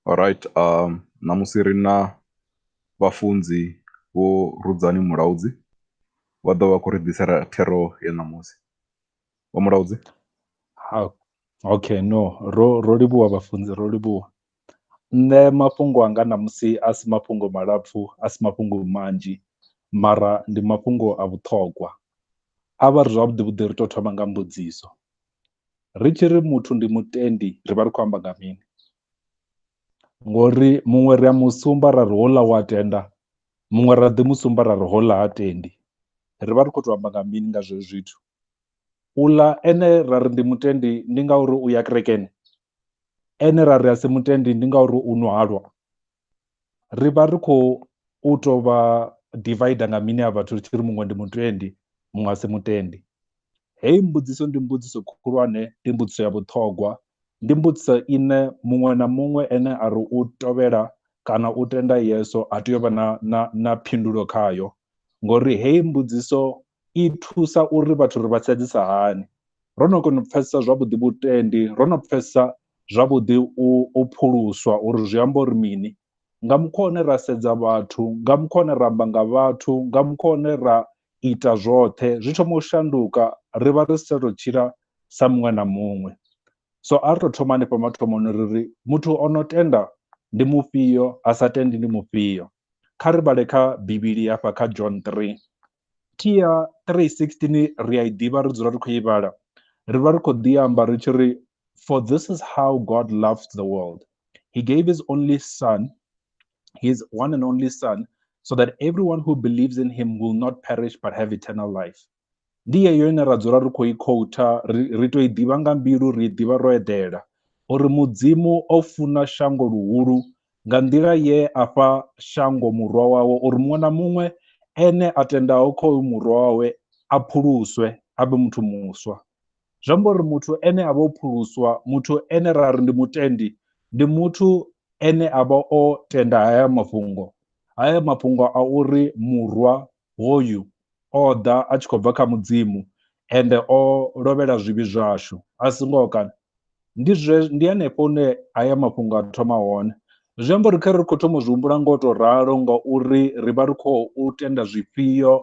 Alright ṋamusi ri na vhafunzi vho Rudzani Mulaudzi vha ḓovha vha khou ri ḓisela thero ya ṋamusi vho Mulaudzi. Okay no ro ro livhuwa vhafunzi ro livhuwa, nṋe mafhungo anga ṋamusi a si mafhungo malapfu a si mafhungo manzhi mara ndi mafhungo a vhuṱhongwa, a vha ri zwavhuḓi vhuḓi ri tou thoma nga mbudziso. ri tshi ri muthu ndi mutendi ri vha ri khou amba nga mini ngori muṅwe ri a musumba ra ri houḽa wa tenda muṅwe ra ḓi musumba ra ri houḽa ha tendi ri vha ri khou tou amba nga mini nga zwezwo zwithu uḽa ene ra ri ndi mutendi ndi ngauri u ya kerekeni ene ra ri a si mutendi ndi ngauri u nwa halwa ri vha ri khou u tou vha divider nga mini a vhathu ri tshi ri muṅwe ndi mutendi muṅwe a si mutendi heyi mbudziso ndi mbudziso khulwane ndi mbudziso ya vhuṱhogwa ndi mbudziso ine muṅwe na muṅwe ene a ri u tovhela kana u tenda yeso a tea u vha na na na phindulo khayo ngori heyi mbudziso i thusa uri vhathu ri vha sedzisa hani ro no kona u pfhesesa zwavhuḓi vhutendi ro no pfhesesa zwavhuḓi u pfuluswa uri zwi amba uri mini nga mukhwa une ra sedza vhathu nga mukhwa une ra amba nga vhathu nga mukhwa une ra ita zwoṱhe zwi thoma u shanduka ri vha ri si tsha tou tshila sa muṅwe na muṅwe so a ri to thoma hanefha mathomoni ri ri muthu o no tenda ndi mufhio a sa tendi ndi mufhio kha ri vhale kha bivhili hafha kha John 3 Thi ya 3:16 ri a i ḓivha, ri dzula ri khou i vhala. Ri vha ri khou ḓi amba ri tshi ri, For this is how God loved the world. He gave his only Son, his one and only Son, so that everyone who believes in him will not perish but have eternal life. Ndi yeyo ine ra dzula ri khou i khoutha, ri tou i ḓivha nga mbilu, ri i ḓivha ro eḓela. Uri Mudzimu o funa shango luhulu nga nḓila ye a fha shango Murwa wawe, uri muṅwe na muṅwe ene a tendaho kha uyu Murwa wawe a pfuluswe, a vhe muthu muswa. Zwi amba uri muthu ene a vha o pfuluswa, muthu ene ra ri ndi mutendi, ndi muthu ene a vha o tenda haya mafhungo, haya mafhungo a uri Murwa hoyu o ḓa a tshi khou bva kha mudzimu ende o lovhela zwivhi zwashu a si ngoho kana ndi zwe ndi hanefho hune haya mafhungo a thoma hone zwi amba uri kha ri khou thoma u zwi humbula ngo to ralo nga uri ri vha ri khou u tenda zwifhio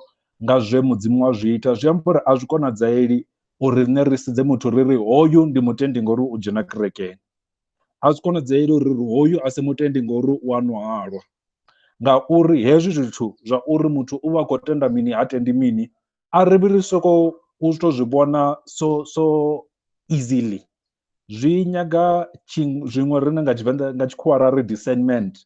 nga zwe mudzimu wa zwi ita zwi amba uri a zwi konadzaeli uri riṋe ri sedze muthu ri ri hoyu ndi mutendi ngori u dzhena kerekeni a zwi konadzeeli uri hoyu a si mutendi ngori u a nwa halwa ngauri hezwi zwithu zwa uri muthu u vha khou tenda mini ha tendi mini a ri vhi ri soko u to zwi vhona so so easily zwi nyaga zwiṅwe riṋe nga tshivenḓa nga tshikhuwa ra ri discernment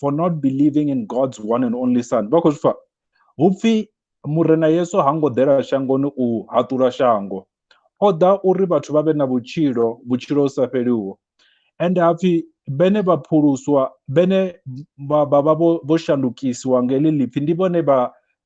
for not believing in god's one and only son vha khou zwi pfa hu pfi murena yesu ha ngo ḓela shangoni u haṱula shango o ḓa uri vhathu vha vhe na vhutshilo vhutshilo u sa fheliho ende ha pfi bene vha phuluswa bene vha vha vho shandukisiwa nga heḽi ḽipfi ndi vhone vha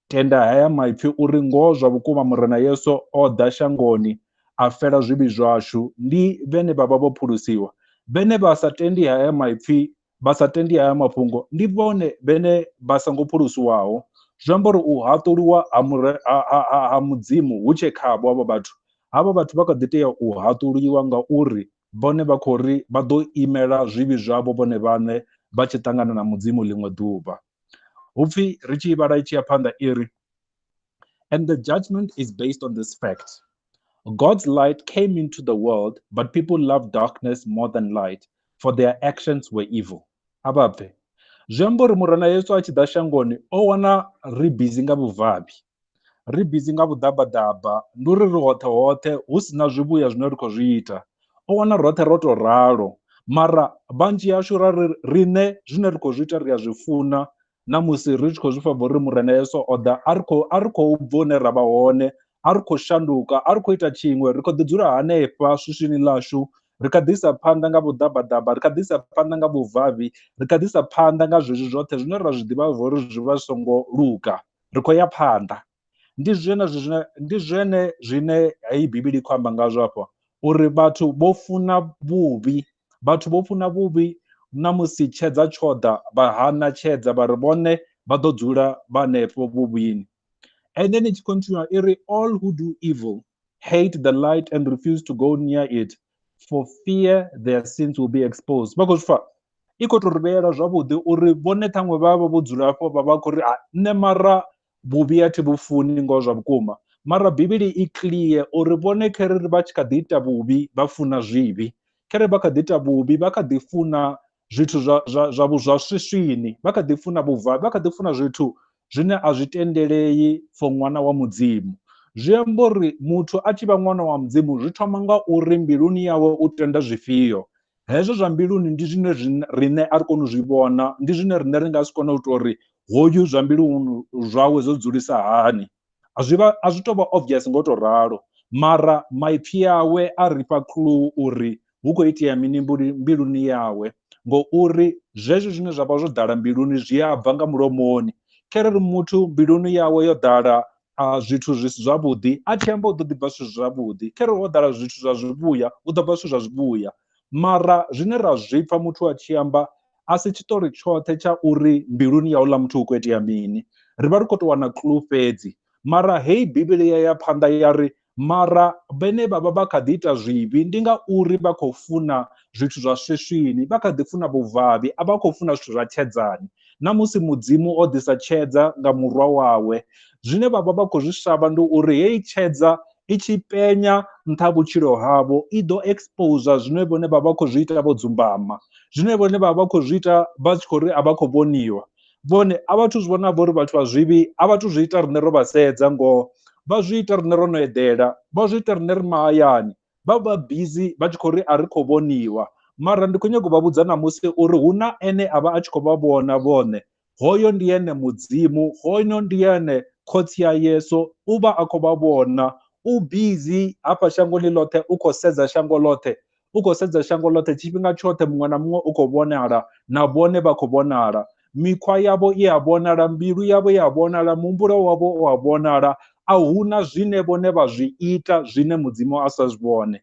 tenda haya maipfi uri ngoho zwa vhukuma murena yesu o ḓa shangoni a fela zwivhi zwashu ndi vhene vha vha vho phulusiwa vhene vha sa tendi haya maipfi vha sa tendi haya mafhungo ndi vhone vhene vha songo phulusiwaho, zwi amba uri u haṱuliwa ha mure, ha, ha, ha Mudzimu hu tshe khavho havho vhathu. Havha vhathu vha kha ḓi tea u haṱuliwa ngauri vhone vha khou ri vha ḓo imela zwivhi zwavho vhone vhaṋe vha tshi ṱangana na Mudzimu ḽiṅwe ḓuvha. Hu pfi, ri tshi i vhala i tshi ya phanḓa i ri, And the judgment is based on this fact, God's light came into the world, but people loved darkness more than light, for their actions were evil. Ababve. Zwi amba uri Murena Yesu a tshi ḓa shangoni o wana ri bizi nga vhuvhabi. Ri bizi nga vhuḓabaḓaba, ndi uri ri hoṱhe hoṱhe hu si na zwivhuya zwine ri khou zwi ita. O wana roṱhe ro tou ralo. Mara vhanzhi hashu ra ri riṋe zwine ri khou zwi ita ri a zwi funa Na musi ri tshi khou zwi pfa vho ri Murena Yesu o ḓa, a ri khou a ri khou bva hune ra vha hone, a ri khou shanduka, a ri khou ita tshiṅwe, ri khou ḓi dzula hanefha swiswini ḽashu, ri kha ḓi isa phanḓa nga vhuḓabaḓaba, ri kha ḓi isa phanḓa nga vhuvhavhi, ri kha ḓi isa phanḓa nga zwezwi zwoṱhe zwine ra zwi ḓivha zwa uri zwi vha zwi songo luga. Ri khou ya phanḓa. Ndi zwenezwo zwine ndi zwene zwine heyi Bivhili i khou amba ngazwo afha uri vhathu vho funa vhuvhi Vhathu vho funa vhuvhi, na musi tshedza tsho ḓa, vha hana tshedza vha ri vhone vha ḓo dzula vha henefho vhuvhini. And then it continue i ri all who do evil hate the light and refuse to go near it for fear their sins will be exposed. Vha khou zwi pfa? I khou tou ri vheyela zwavhuḓi uri vhone ṱhaṅwe vha vha vho dzula afho vha vha khou ri nṋe mara vhuvhi a thi vhu funi ngoho zwa vhukuma mara bivhili i clear uri vhone kharali vha tshi kha ḓi ita vhuvhi vha funa zwivhi kharali vha kha ḓi ita vhuvhi vha kha ḓi funa zwithu zwa zwa zwa vhu zwa swiswini vha kha ḓi funa vhuvha vha kha ḓi funa zwithu zwine a zwi tendelei for ṅwana wa mudzimu zwi amba uri muthu a tshi vha ṅwana wa mudzimu zwi thoma nga uri mbiluni yawe u tenda zwifhio hezwo zwa mbiluni ndi zwine riṋe a ri koni u zwi vhona ndi zwine riṋe ri nga si kone u tou ri hoyu zwa mbiluni zwawe zwo dzulisa hani a zwi vha a zwi tou vha obvious ngo tou ralo mara maipfhi awe a ri fha clue uri hu khou itea mini mbiluni yawe ngouri zwezwo zwine zwa vha zwo ḓala mbiluni zwi a bva nga mulomoni kharali muthu mbiluni yawe yo ḓala a zwithu zwi si zwavhuḓi a tshi amba u ḓo ḓi bva zwithu zwavhuḓi khere ho ḓala zwithu zwa zwivhuya u ḓo bva zwithu zwa zwivhuya mara zwine ra zwi pfha muthu a tshi amba a si tshiṱori tshoṱhe tsha uri mbiluni ya houḽa muthu hu khou itea mini ri vha ri khou tou wana clue fhedzi mara heyi bivhili ya ya phanḓa ya ri Mara vhene vha vha vha kha ḓi ita zwivhi ndi ngauri vha khou funa zwithu zwa swiswini, vha kha ḓi funa vhuvhavhi, a vha khou funa zwithu zwa tshedzani. Na musi Mudzimu o ḓisa tshedza nga Murwa wawe, zwine vha vha vha khou zwi shavha ndi uri heyi tshedza i tshi penya nṱha ha vhutshilo havho i ḓo exposer zwine vhone vha vha vha khou zwi ita vho dzumbama, zwine vhone vha vha vha khou zwi ita vha tshi khou ri a vha khou vhoniwa. vhone a vhathu zwi vhona vho uri vhathu vha zwivhi a vhathu zwi ita riṋe ro vha sedza ngoho vha zwi ita riṋe ro no eḓela vha zwi ita riṋe ri mahayani vha vha bizi vha tshi khou ri a ri khou vhoniwa mara ndi khou nyanga u vha vhudza namusi uri hu na ene a vha a tshi khou vha vhona vhone hoyo ndi ene mudzimu hoyo ndi ene khotsi ya yesu u vha a khou vha vhona u bizi hafha shangoni ḽoṱhe u khou sedza shango ḽoṱhe u khou sedza shango ḽoṱhe tshifhinga tshoṱhe muṅwe na muṅwe u khou vhonala na vhone vha khou vhonala mikhwa yavho i a vhonala mbilu yavho i a vhonala muhumbulo wavho u a vhonala a huna zwine vhone vha zwi ita zwine mudzimu a sa zwi vhone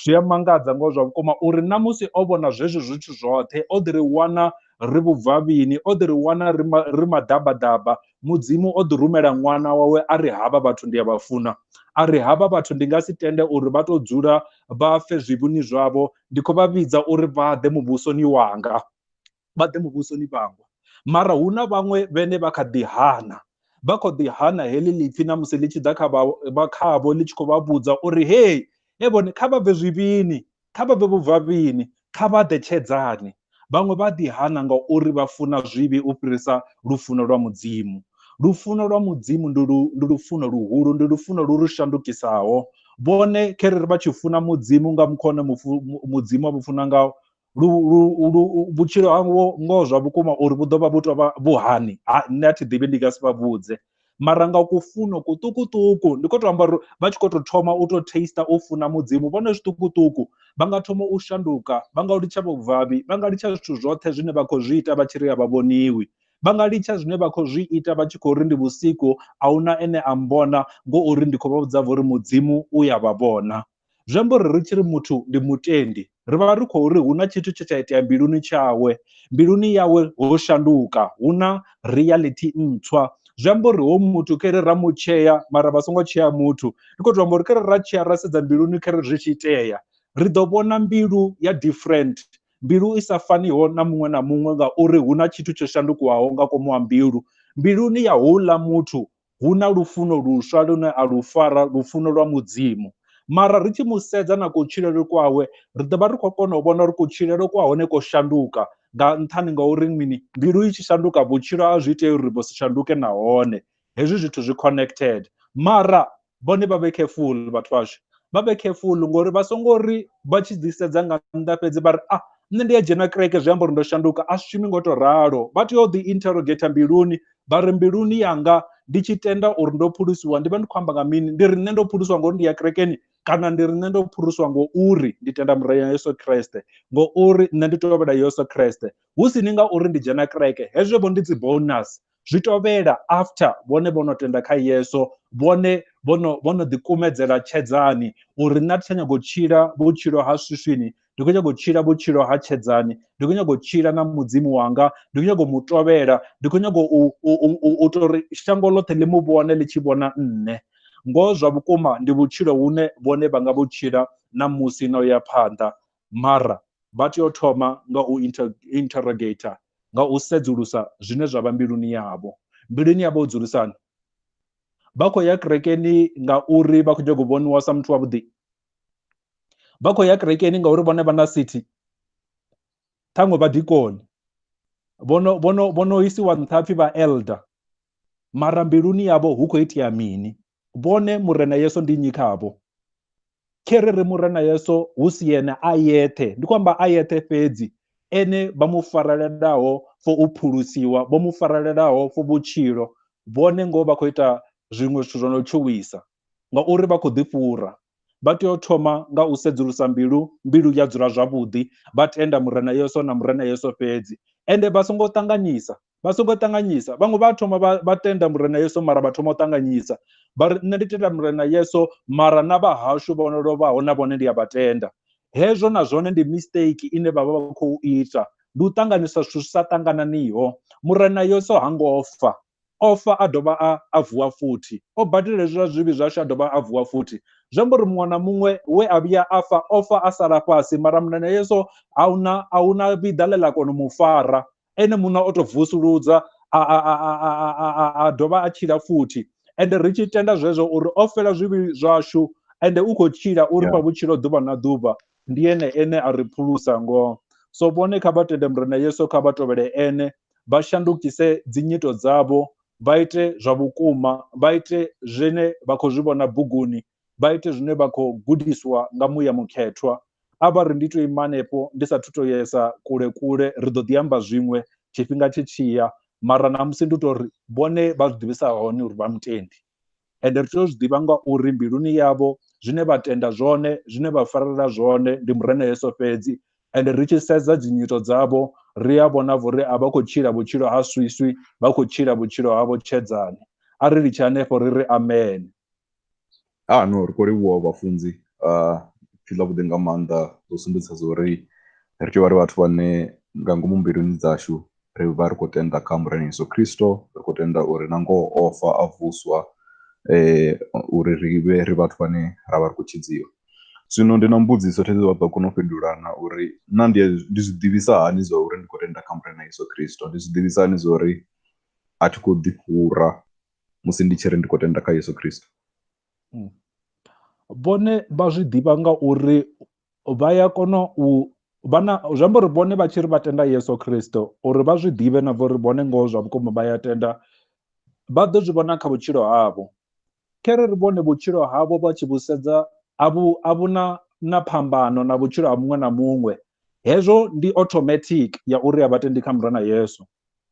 zwi a mangadza ngo zwa vhukuma uri na musi o vhona zwezwo zwithu zwoṱhe o ḓi ri wana ri vhubvavhini o ḓi ri wana ri maḓabaḓaba mudzimu o ḓi rumela ṅwana wawe a ri havha vhathu ndi a vha funa a ri havha vhathu ndi nga si tende uri vha tou dzula vha fe zwivhuni zwavho ndi khou vha vhidza uri vha ḓe muvhusoni wanga vha ḓe muvhusoni vhangwa mara hu na vhaṅwe vhene vha kha ḓi hana vha kho ḓi hana heḽi lipfi na musi ḽi tshi ḓa kha vha khavho ḽi tshi khou vha vhudza uri hey e vhone kha vha bve zwivhini Kha vha bve vhubvafhini, kha vha ḓe tshedzani. Vhaṅwe vha a ḓihana ngauri vha funa zwivhi u fhirisa lufuno lwa Mudzimu. Lufuno lwa Mudzimu ndi lu, ndi lufuno luhulu, ndi lufuno lu ri shandukisaho. Vhone, kherere vha tshi funa Mudzimu nga mukho une mufu, Mudzimu a vhu funa ngawo, lu, lu, lu, vhutshilo havho ngoho zwa vhukuma uri vhu ḓo vha vhu tou vha vhu hani, ha, nṋe a thi ḓivhi, ndi nga si vha vhudze. mara nga ku funo kuṱukuṱuku ndi khou tou amba uri vha tshi khou tou thoma u tou taster u funa mudzimu vhone zwiṱukuṱuku vha nga thoma u shanduka vha nga litsha vhubvabi vha nga litsha zwithu zwoṱhe zwine vha khou zwi ita vha tshi ri a vha vhoniwi vha nga litsha zwine vha khou zwi ita vha tshi khou ri ndi vhusiku a huna ene a mbona ngo uri ndi khou vha vhudza vho uri mudzimu u ya vha vhona Zwi amba uri ri tshi ri muthu ndi mutendi, ri vha ri khou ri hu na tshithu tshe tsha itea mbiluni tshawe, mbiluni yawe ho shanduka, hu na reality ntswa. Zwi amba uri hoyu muthu kha ri ra mu tshea mara vha songo tshea muthu, ndi khou tou amba uri kha ri ra tshea ra sedza mbiluni kha ri zwi tshi itea, ri ḓo vhona mbilu ya different, mbilu i sa faniho na muṅwe na muṅwe ngauri hu na tshithu tsho shandukiwaho nga ngomu ha mbilu. Mbiluni ya houḽa muthu hu na lufuno luswa lune a lu fara, lufuno lwa Mudzimu. Mara ri tshi mu sedza na kutshilele kwawe, ri ḓo vha ri khou kona u vhona uri kutshilele kwa hone ko shanduka. Nga nṱhani nga uri mini? Mbilu i tshi shanduka, vhutshilo a zwi itei uri vhu si shanduke nahone. Hezwi zwithu zwi connected. Mara vhone vha vhe careful vhathu vhashu. Vha vhe careful ngori vha songo ri vha tshi ḓi sedza nga nnḓa fhedzi vha ri, ah, nṋe ndi a dzhena kereke zwi amba uri ndo shanduka. A zwi shumi ngo tou ralo. Vha tea u ḓi interrogator mbiluni vha ri mbiluni yanga ndi tshi tenda uri ndo phulusiwa ndi vha ndi khou amba nga mini ndi ri nṋe ndo phulusiwa ngori ndi ya kerekeni kana ndi ri nṋe ndo phulusiwa ngo uri ndi tenda murayo ya yesu kreste ngo uri nṋe ndi tovhela yesu kreste hu si ni nga uri ndi dzhena kereke hezwo vho ndi dzi bonus zwi tovhela after vhone vho no tenda kha yesu vhone vhono vhono ḓikumedzela tshedzani uri nṋe a thi tsha nyago u tshila vhutshilo ha swiswini ndi khou nyanga u tshila vhutshilo ha tshedzani ndi khou nyanga u tshila na mudzimu wanga ndi khou nyanga u mu tovhela ndi khou nyanga u tou ri shango ḽoṱhe ḽi mu vhone ḽi tshi vhona nṋe ngoho zwa vhukuma ndi vhutshilo hune vhone vha nga vhu tshila na musi na u ya phanḓa mara vha tea u thoma nga u interrogator nga u sedzulusa zwine zwa vha mbiluni yavho mbiluni yavho u dzulisani vha khou ya kerekeni ngauri vha khou nyanga u vhoniwa sa muthu wavhuḓi vha khou ya kerekeni ngauri vhone vha na sithi ṱhaṅwe vha dikoni vhono vhono vhono isiwa nṱha pfhi vha elder mara mbiluni yavho hu khou itea mini vhone murena yeso ndi nnyi khavho khe ri ri murena yeso hu si yene a yeṱhe ndi khou amba a yeṱhe fhedzi ene vha mu farelelaho fo u phulusiwa vho mu farelelaho fo vhutshilo vhone ngoho vha khou ita zwiṅwe zwithu zwo no tshuwisa ngauri vha khou ḓifhura. Vha tea u thoma nga u sedzulusa mbilu, mbilu ya dzula zwavhuḓi, vha tenda Murena Yesu na Murena Yesu fhedzi. Ende vha songo ṱanganyisa, vha songo ṱanganyisa. Vhaṅwe vha thoma vha vha tenda Murena Yesu mara vha thoma u ṱanganyisa. Vha ri nṋe ndi tenda Murena Yesu mara na vha hashu vho no lovhaho na vhone ndi a vha tenda. Hezwo na zwone ndi mistake ine vha vha vha khou ita, ndi u ṱanganisa zwithu zwi sa ṱangananiho. Murena Yesu ha ngo fa, O fa a dovha a, a vuwa futhi. O badela hezwi zwa zwivhi zwashu a dovha a vuwa futhi. Zwi amba uri muṅwe na muṅwe we a vhuya a fa, o fa a sala fhasi, mara Muṋe Yesu a hu na, a hu na vhiḓa ḽe ḽa kona u mu fara. Ene muṋe o tou vusuludza, a, a, a, a, a, a, a, a dovha a tshila futhi. Ende ri tshi tenda zwezwo uri o fela zwivhi zwashu, ende u khou tshila, u ri fha Yeah. vhutshilo ḓuvha na ḓuvha, Ndi ene ene a ri phulusa ngoho. So vhone kha vha tende Murena Yesu, kha vha tovhele ene, vha shandukise dzinyito dzavho, vha ite zwa vhukuma, vha ite zwine vha khou zwi vhona buguni, vha ite zwine vha khou gudiswa nga muya mukhethwa. A vha ri ndi tou ima hanefho ndi sathu tou yesa kule kule, ri ḓo ḓi amba zwiṅwe tshifhinga tshi tshi ya, mara ṋamusi ndi tou ri vhone vha zwi ḓivhisa hani uri vha mutendi? ende ri tea u zwi ḓivha ngauri mbiluni yavho zwine vha tenda zwone zwine vha farela zwone ndi murena yesu fhedzi ende ri tshi sedza dzinyito dzavho ri a vhona vho ri a vha khou tshila vhutshilo ha swiswi vha khou tshila vhutshilo havho tshedzani a ri litshe hanefho ri ri amen ha no ri khou livhuwa vhafunzi uh, pfhi ḽa vhuḓi nga maanḓa dzo sumbedzisa zwo ri ri tea vha ri vhathu vhane nga ngomu mbiluni dzashu ri vha ri khou tenda kha Murena Yesu Kristo ri khou tenda uri na ngoho o fa a vuswa eh uri ri vhe ri vhathu vhane ra vha ri khou tshidziwa zwino ndi na mbudziso thedzi vha ḓo kona u fhindulana uri na ndi ndi zwi ḓivhisa hani zwa uri ndi khou tenda kha Murena Yesu Kristo ndi zwi ḓivhisa hani zwa uri a thi khou ḓi fhura musi ndi tshi ri ndi khou tenda kha Yesu Kristo hmm. vhone vha zwi ḓivha nga uri vha ya kona u vha na zwi amba uri vhone vha tshi ri vha tenda Yesu Kristo uri vha zwi ḓivhe na vha uri vhone ngoho zwa vhukuma vha ya tenda vha ḓo zwi vhona kha vhutshilo havho khere ri vhone vhutshilo havho vha tshi vhusedza a vhu a vhu na na phambano na vhutshilo ha muṅwe na muṅwe hezwo ndi automatic ya uri a vhatendi kha murena Yesu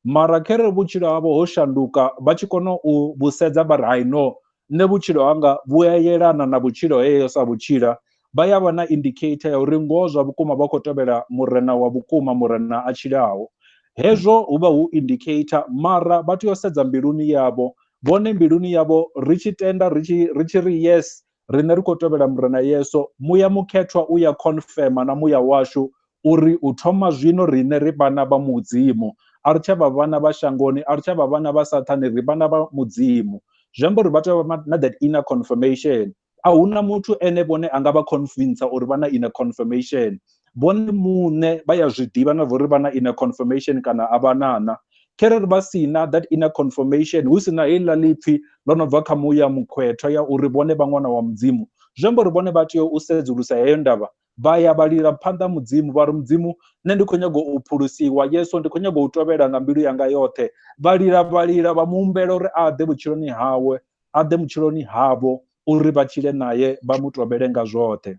mara khere vhutshilo havho ho shanduka vha tshi kona u vhusedza vha ri hai no nṋe vhutshilo hanga vhu a yelana na vhutshilo heyo sa vhutshila vha ya vha na indicator ya uri ngoho zwa vhukuma vha khou tevhela murena wa vhukuma murena a tshilaho hezwo hu vha hu indicator mara vha tea u sedza mbiluni yavho vhone mbiluni yavho ri tshi tenda ri tshi ri tshi ri yes Riṋe ri khou tevhela Murena Yesu, muya mukhethwa u ya khonfema na muya washu uri u thoma zwino riṋe ri vhana vha Mudzimu. A ri tsha vha vhana vha shangoni, a ri tsha vha vhana vha Sathane, ri vhana vha Mudzimu. Zwi amba uri vha tea u vha na that inner confirmation. A hu na muthu ene vhone a nga vha convincer uri vha na inner confirmation. vhone muṋe vha ya zwi ḓivha na vhori vha na inner confirmation kana a vha na na kherere vha si na that inner confirmation hu si na heiḽa ḽipfhi ḽo no bva kha muya mukhwethwa ya uri vhone vha ṅwana wa mudzimu zwi amba uri vhone vha tea u sedzulusa heyo ndavha vha ya vha lila phanḓa mudzimu vha ri mudzimu nṋe ndi khou nyanga u phulusiwa yesu ndi khou nyanga u tovhela nga mbilu yanga yoṱhe vha lila vha lila vha mu humbela uri a ḓe vhutshiloni hawe a ḓe vhutshiloni havho uri vha tshile naye vha mu tovhele nga zwoṱhe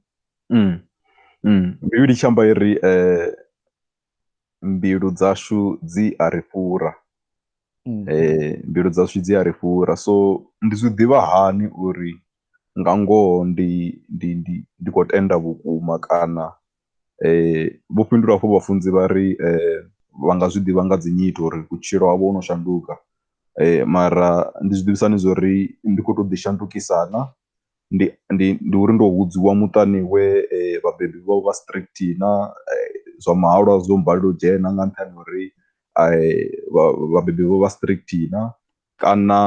Mm. Mm. Bivhili tshi amba iri eh, mbilu dzashu dzi a ri fhura mm. eh, mbilu dzashu dzi a ri fhura so ndi zwi ḓivha hani uri nga ngoho ndi ndi ndi ndi khou tenda vhukuma kana eh vho fhindula hafho vhafunzi vha ri eh vha nga zwi ḓivha nga dzi nyito uri vhutshilo havho ho no shanduka eh mara ndi zwi ḓivhisani zwo ri ndi khou tou ḓi shandukisana ndi ndi ndi uri ndo vhudziwa muṱani we vhabebi vha vha strict na zwa mahalwa zwo balela u dzhena nga nṱhani ha uri vhabebi vho vha strict na kana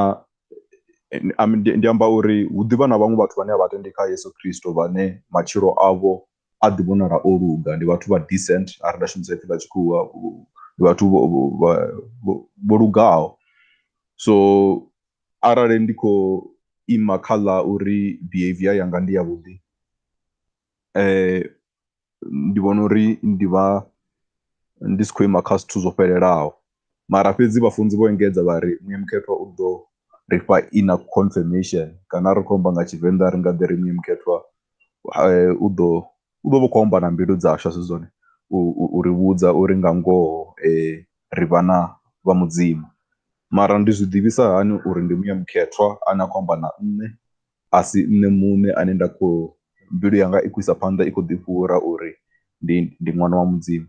ndi amba uri hu ḓivha na vhaṅwe vhathu vhane a vha tendi kha Yeso Khristo vhane matshilo avho a ḓi vhonala o luga ndi vhathu vha decent arali nda shumisa ipfhi ḽa tshikhuwa ndi vhathu vho lugaho so arali ndi khou ima kha ḽa uri behavior yanga ndi ya vhuḓi ndi vhona uri ndi vha ndi si khou ima kha zwithu zwo fhelelaho. Mara fhedzi vhafunzi vho engedza vha ri Muya Mukhethwa u ḓo ri fha inner confirmation kana ri khou amba nga Tshivenḓa ri nga ḓi ri Muya Mukhethwa u ḓo u ḓo vha khou amba na mbilu dzashu a si zwone, u ri vhudza uri nga ngoho ri vhana vha Mudzimu. Mara ndi zwi ḓivhisa hani uri ndi Muya Mukhethwa ane a khou amba na nṋe a si nṋe muṋe ane nda khou, mbilu yanga i khou isa phanḓa i khou ḓifhura uri ndi ndi ṅwana wa Mudzimu.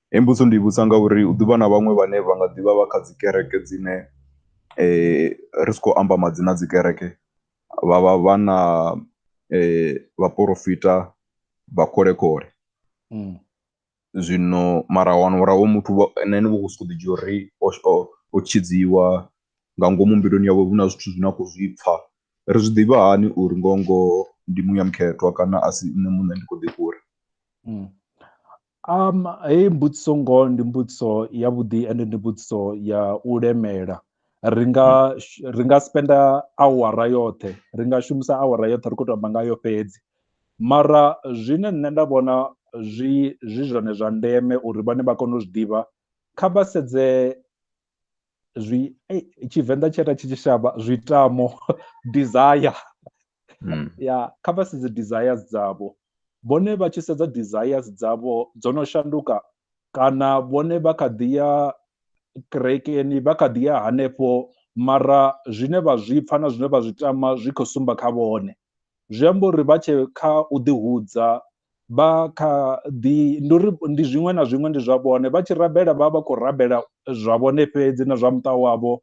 Heyi mbudziso ndi i vhudzisa ngauri hu ḓi vha na vhaṅwe vhane vha nga ḓi vha vha kha dzi kereke dzine ri si khou amba madzina a dzi kereke vha vha vha na vhaporofita vha kholekhoḽe. zwino mara wana uri hoyo muthu na ene vho khou sokou ḓi dzhia uri o tshidziwa nga ngomu mbiluni yawe hu na zwithu zwine a khou zwi pfha ri zwi ḓivha hani uri ngoho ngoho ndi muya mukhethwa kana a si nṋe muṋe ndi khou ḓi fhura mm. um heyi mbudziso ngoho ndi mbudziso yavhuḓi ende ndi mbudziso ya u lemela ri nga ri nga spenda awara yoṱhe ri nga shumisa awara yoṱhe ri khou tou amba ngayo fhedzi Mara zwine nṋe nda vhona zwi zwi zwone zwa ndeme uri vhane vha kone u zwi ḓivha kha vha sedze zwi tshivenḓa tshi ita tshi tshi shavha zwi tamo desire ya kha vha sedze desire dzavho vhone vha tshi sedza desire dzavho dzo no shanduka kana vhone vha kha ḓi ya kerekeni vha kha ḓi ya hanefho mara zwine vha zwipfa na zwine vha zwi tama zwi khou sumba kha vhone zwi amba uri vha tshe kha u ḓi hudza vha kha ḓi ndi uri ndi zwiṅwe na zwiṅwe ndi zwa vhone vha tshi rabela vha vha khou rabela zwa vhone fhedzi na zwa muṱa wavho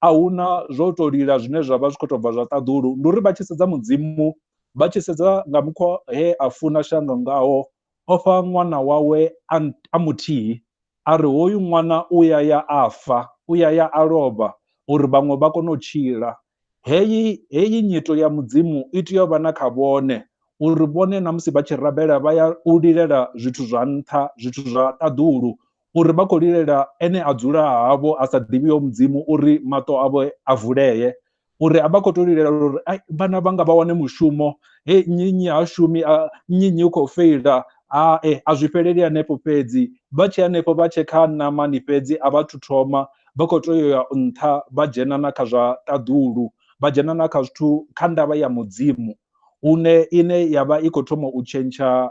a hu na zwo to lila zwine zwa vha zwi khou tou bva zwa ṱaḓulu ndi uri vha tshi sedza mudzimu vha tshi sedza nga mukhwa he a funa shango ngaho o fha ṅwana wawe a, a muthihi a ri hoyu ṅwana u ya ya a fa u ya ya a lovha uri vhaṅwe vha kone u tshila heyi heyi nyito ya mudzimu i tea u vha na kha vhone uri vhone na musi vha tshi rabela vha ya u lilela zwithu zwa nṱha zwithu zwa ṱaḓulu uri vha khou lilela ene a dzula havho a sa ḓivhiho mudzimu uri maṱo avho a vulee uri a vha khou to lilela uri vhana vhanga vha wane mushumo he nnyi nnyi ha shumi nnyi nnyi u khou feila hae a zwi fheleli hanefho fhedzi vha tshi hanefho vha tshe kha ṋamani fhedzi a vha thu thoma vha khou tea ya nṱha vha dzhena na kha zwa ṱaḓulu vha dzhena na kha zwithu kha ndavha ya mudzimu hune ine yavha i khou thoma u tshentsha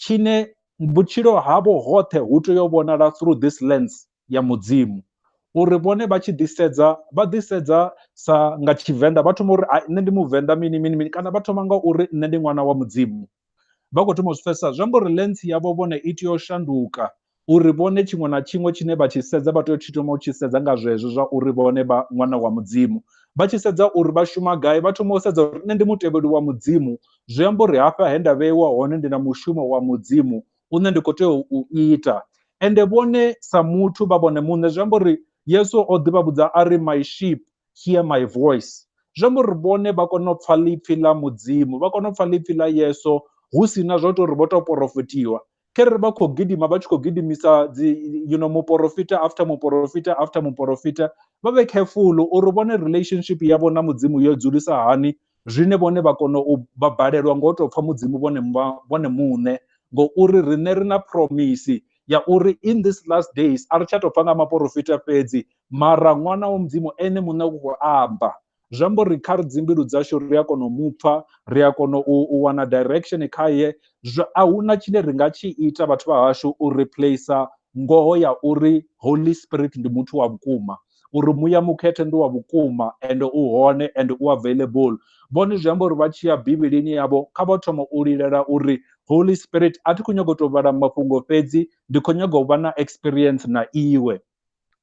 tshine vhutshilo havho hoṱhe hu tea u vhonala through this lens ya mudzimu uri vhone vha tshi ḓisedza vha ḓisedza sa nga tshivenḓa vha thoma uri nṋe ndi muvenḓa mini mini mini kana vha thoma nga uri nṋe ndi ṅwana wa mudzimu vha khou thoma u zwi pfhesesa zwi amba uri lens yavho vhone i tea u shanduka uri vhone tshiṅwe na tshiṅwe tshine vha tshi sedza vha tea u tshi thoma u tshi sedza nga zwezwo zwa uri vhone vha ṅwana wa mudzimu vha tshi sedza uri vha shuma gai vha thoma u sedza uri nṋe ndi mutevheli wa mudzimu zwi amba uri hafha he nda vheiwa hone ndi na mushumo wa mudzimu une ndi khou tea u ita ende vhone sa muthu vha vhone muṋe zwi amba uri yesu o ḓi vha vhudza a ri my sheep hear my voice zwi amba uri vhone vha kona u pfha ḽipfhi ḽa mudzimu vha kona u pfha ḽipfhi ḽa yesu hu si na zwa u tou uri vho tou porofetiwa khere vha khou gidima vha tshi khou gidimisa dzi you know muporofita after muporofita after muporofita vha vhe careful uri vhone relationship yavho na mudzimu yo dzulisa hani zwine vhone vha kona u vha balelwa ngo tou pfha mudzimu vhone vhone muṋe ngouri riṋe ri na promise ya uri in this last days a ri tsha tou pfha nga maporofita fhedzi mara ṅwana wa mudzimu ene muṋe u khou amba zwi amba uri kha ri dzimbilu dzashu ri a kona u mupfa ri a kona u, u wana direction khaye a huna tshine ri nga tshi ita vhathu vha hashu u replacer ngoho ya uri holy spirit ndi muthu wa vhukuma uri muya mukhethe ndi wa vhukuma ende u hone ende u available vhone zwi amba uri vha tshi ya bivhilini yavho kha vha thoma u lilela uri holy spirit a thi khou nyanga u tou vhala mafhungo fhedzi ndi khou nyanga u vha na experience na iwe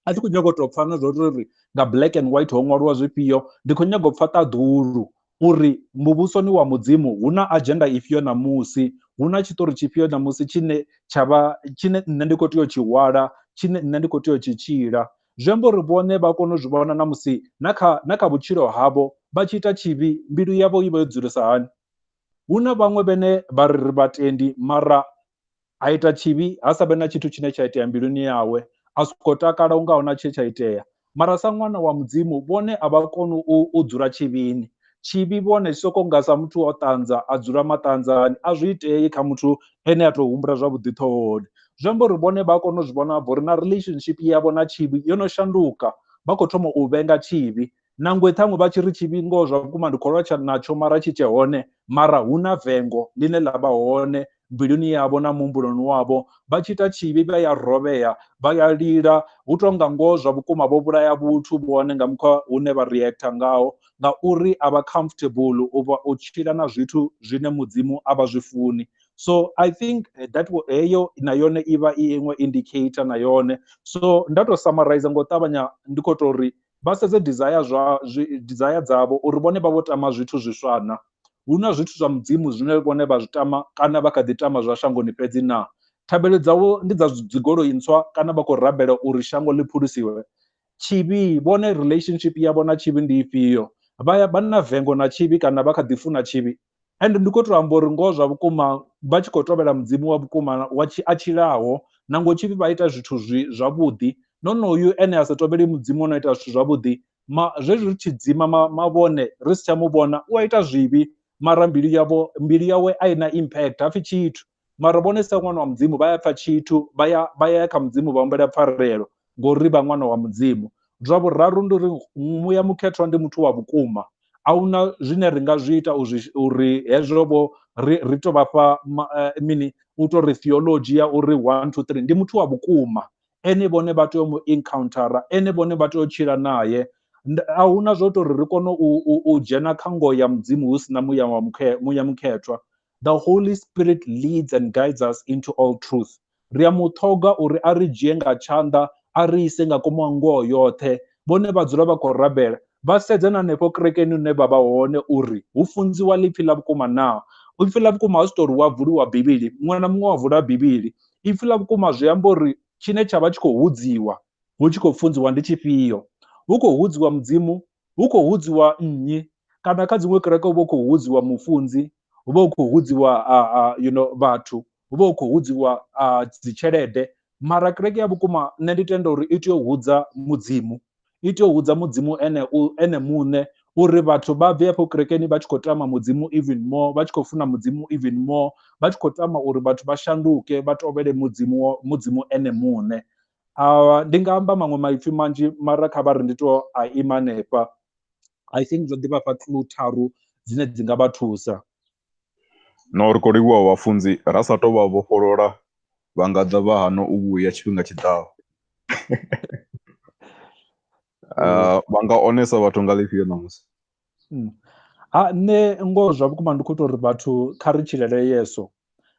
a thi khou nyaga u tou pfha na zwo uri nga black and white ho ṅwaliwa zwifhio ndi khou nyaga u pfha ṱaḓulu uri muvhusoni wa mudzimu hu na agenda ifhio ṋamusi hu na tshiṱori tshifhio ṋamusi tshine tsha vha tshine nṋe ndi khou tea u tshi hwala tshine nṋe ndi khou tea u tshi tshila zwi amba uri vhone vha kone u zwi vhona na musi na kha na kha vhutshilo havho vha tshi ita tshivhi mbilu yavho i vha yo dzulesa hani hu na vhaṅwe vhene vha ri ri vhatendi mara a ita tshivhi ha sa vhe na tshithu tshine tsha itea mbiluni yawe a soko takala unga huna tshe tsha itea mara sa ṅwana wa mudzimu vhone a vha koni u dzula tshivhini tshivhi vhone tshi soko nga sa muthu o ṱanza a dzula maṱanzani a zwi itei kha muthu ene a tou humbula zwavhuḓi ṱhohoni zwi amba uri vhone vha kona u zwi vhona bva uri na relationship yavho na tshivhi yo no shanduka vha khou thoma u vhenga tshivhi nangwe ṱhaṅwe vha tshi ri tshivhi ngoho zwa vhukuma ndi kholwa tsha natsho mara tshi tshe hone mara hu na vengo ḽine ḽa vha hone mbiluni yavho na muhumbuloni wavho vha tshi ita tshivhi vha ya rovhea vha ya lila hu tou nga ngoho zwa vhukuma vho vhulaya vhuthu vhone nga mkhwa hune vha reactor ngaho ngauri a vha comfortable u vha u tshila na zwithu zwine mudzimu a vha zwi funi so i think eh, that heyo na yone i vha i iṅwe indicator na yone so nda tou summarize ngo ṱavhanya ndi khou tou ri vha sedze desire zwa desire dzavho uri vhone vha vho tama zwithu zwiswa na hu na zwithu zwa mudzimu zwine vhone vha zwi tama kana vha kha ḓi tama zwa shangoni fhedzi na thabelo dzavho ndi dza dzigoloi ntswa kana vha khou rabela uri shango ḽi phulusiwe tshivhi vhone relationship yavho na tshivhi ndi ifhio vha ya vha na vengo na tshivhi kana vha kha ḓi funa tshivhi ende ndi kho to amba uri ngoho zwa vhukuma vha tshi kho tovhela mudzimu wa vhukuma wa tshi a tshilaho na ngo tshifhi vha ita zwithu zwi zwavhuḓi nonoyu ene a sa tovheli mudzimu ono ita zwithu zwavhuḓi ma zwezwi ri tshi dzima ma, mavhone ri si tsha mu vhona u a ita zwivhi mara mbilu yavho mbilu yawe a i na impact hapfi tshithu mara vhone sa ṅwana wa mudzimu vha ya pfa tshithu vha ya vha ya kha mudzimu vha humbela pfarelo ngori vha ṅwana wa mudzimu zwa vhuraru ndi uri muya mukhethwa ndi muthu wa vhukuma ahuna zwine ri nga zwi ita uzwi uri hezwo vho ri ri to vhafha eh, mini u to ri theology ya uri 1 2 3 ndi muthu wa vhukuma ene vhone vha tea u mu encountera ene vhone vha tea u tshila naye a hu na zwo tou ri ri kone u dzhena kha ngoho ya mudzimu hu si na muya wa mukhe muya mukhethwa The Holy Spirit leads and guides us into all truth. Ri a mu ṱhoga uri a ri dzhie nga tshanḓa a ri ise nga komo a ngoho yoṱhe. Vhone vha dzula vha khou rabela vha sedza na hanefho kerekeni hune vha vha hone uri hu funziwa ḽipfi ḽa vhukuma naa. Ipfi ḽa vhukuma a zwi tou ri wa vuliwa Bivhili, muṅwe na muṅwe wa vula Bivhili. Ipfi ḽa vhukuma zwi amba uri tshine tsha vha tshi khou hudziwa hu tshi khou funziwa ndi tshifhio. Hu khou hudziwa Mudzimu hu khou hudziwa nnyi kana kha dziṅwe kereke hu vha hu khou hudziwa mufunzi hu vha hu khou hudziwa you know vhathu hu vha hu khou hudziwa dzi tshelede mara kereke ya vhukuma nṋe ndi tenda uri i tea u hudza mudzimu i tea u hudza mudzimu ene u ene muṋe uri vhathu vha bve afho kerekeni vha tshi khou tama mudzimu even more vha tshi khou funa mudzimu even more vha tshi khou tama uri vhathu vha shanduke vha tovhele mudzimu mudzimu ene muṋe Ndi nga amba maṅwe maipfi manzhi mara kha vha ri ndi tou a ima hanefha, I think zwo ḓi vhafha clue tharu dzine dzi nga vha thusa. No ri kho livhuwa vhafunzi ra sa tou vha vhofholola vha nga ḓa vha hana u vhuya tshifhinga tshi ḓaho. uh, vha nga onesa vhathu nga ḽifhio ṋamusi mm. ha nṋe ngoho zwa vhukuma ndi khou ita uri vhathu kha ri tshilele yeso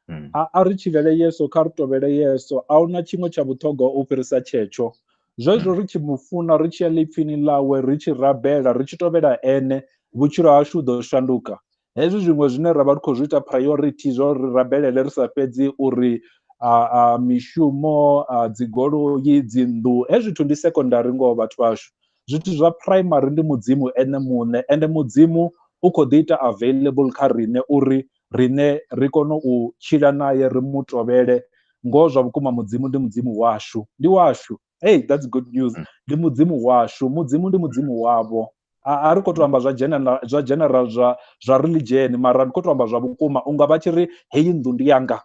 mm. a, a ri tshilele yeso kha ri tovhele yeso a huna tshiṅwe tsha vhuṱhogwa u fhirisa tshetsho zwezwo mm. ri tshi mu funa ri tshi ya ḽipfini ḽawe ri tshi rabela ri tshi tovhela ene vhutshilo hashu hu ḓo shanduka Hezwi zwiṅwe zwine ra vha ri khou zwi ita priority zwa uri rabelele ri sa fhedzi uri a, a mishumo a dzigoloi dzinnḓu hezwi zwithu ndi secondary ngoho vhathu vhashu zwithu zwa primary ndi mudzimu ene muṋe ende mudzimu u khou ḓi ita available kha riṋe uri riṋe ri kone u tshila naye ri mu tovhele ngoho zwa vhukuma mudzimu ndi mudzimu washu ndi washu hey that's good news mm. ndi mudzimu washu mudzimu ndi mudzimu wavho a ri khou tou amba zwa general zwa general zwa zwa religion mara ndi khou tou amba zwa vhukuma unga vha tshi ri heyi nnḓu ndi yanga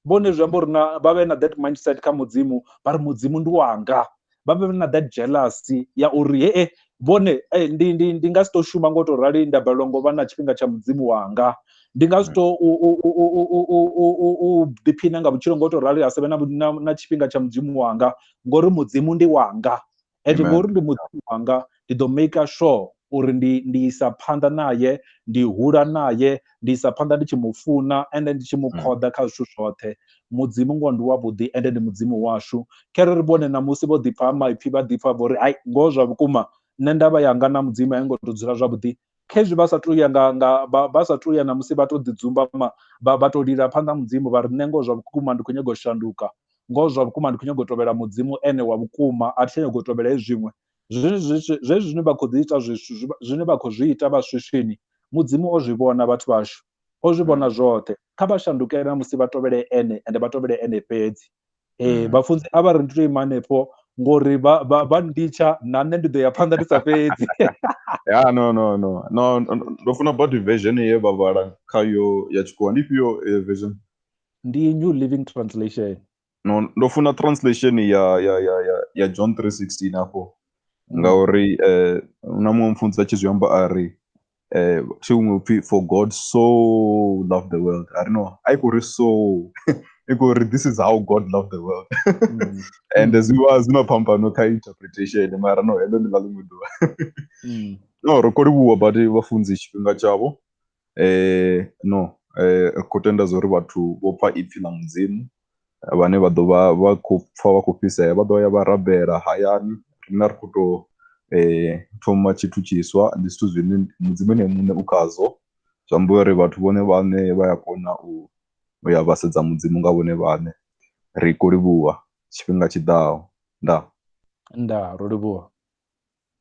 vhone zwi amba uri na vha vhe na that mindset kha mudzimu vha ri mudzimu ndi wanga vha vhe na that jealousy ya uri hee vhone hey, eh, ndi, ndi, ndi nga si to shuma ngo to rali nda balelwa ngo vha na tshifhinga tsha mudzimu wanga ndi nga zwi to u ḓiphina nga vhutshilo ngo to rali ha savhe na, na, na tshifhinga tsha mudzimu wanga ngori mudzimu ndi wanga and ngori ndi mudzimu wanga ndi ḓo maker sure uri ndi ndi isa phanḓa naye ndi hula naye ndi isa phanḓa ndi tshi mu funa ende ndi tshi mu khoḓa kha zwithu zwoṱhe mudzimu ngoho ndi wavhuḓi ende ndi mudzimu washu khere ri vhone ṋamusi vho ḓipfa ha maipfhi vha ḓipfa vho ri hai ngoho zwa vhukuma nṋe ndavha yanga na mudzimu a yo ngo to dzula zwavhuḓi khezwi vha sa tou ya nga nga vha sa tou ya na musi vha to ḓi dzumbama vha vha to lila phanḓa mudzimu vha ri nṋe ngoho zwa vhukuma ndi khou nyanga u shanduka ngoho zwa vhukuma ndi khou nyanga u tovhela mudzimu ene wa vhukuma a thi tsha nyanga u tovhela hezwi zwiṅwe Zwezwi zwine vha khou ḓi ita zwithu zwine vha khou zwi ita vha swiswini mudzimu o zwi vhona vhathu vhashu o zwi vhona zwoṱhe kha vha shandukele na musi vha tovhele ene ende vha tovhele ene fhedzi ee vhafunzi a vha ri ndi to ima hanefho ngori vha vha vha nditsha na nṋe ndi ḓo ya phanḓa ndi sa fhedzi ya no no no no ndo funa body version ye vha vhala khayo ya tshikhuwa ndi ifhio version ndi new living translation no ndo funa translation ya ya ya ya, ya John 3:16 hafho ngauri eh na muṅwe mfunzi a tshi zwi amba a ri eh thi huṅwe upfi for God so loved the world a ri no a i khou ri so i khou ri this is how God loved the world Mm. and zwi vha zwi na phambano kha interpretation mara no heḽo ndi ḽa ḽiṅwe ḓuvha Mm. no ro khou livhuwa badi vhafunzi tshifhinga tshavho No, ri khou tenda zwa uri vhathu vho pfha ipfhi ḽa Mudzimu vhane vha ḓo vha vha khou pfha vha khou fhisea vha ḓo ya vha rabela hayani, riṋe a ri khou tou thoma tshithu tshiswa. Ndi zwithu zwine Mudzimu ene muṋe u khazwo, zwi amba uri vhathu vhone vhaṋe vha ya kona u ya vha sedza Mudzimu nga vhone vhaṋe. Ri khou livhuwa tshifhinga tshi ḓaho. Ndaa. Ndaa, ro livhuwa.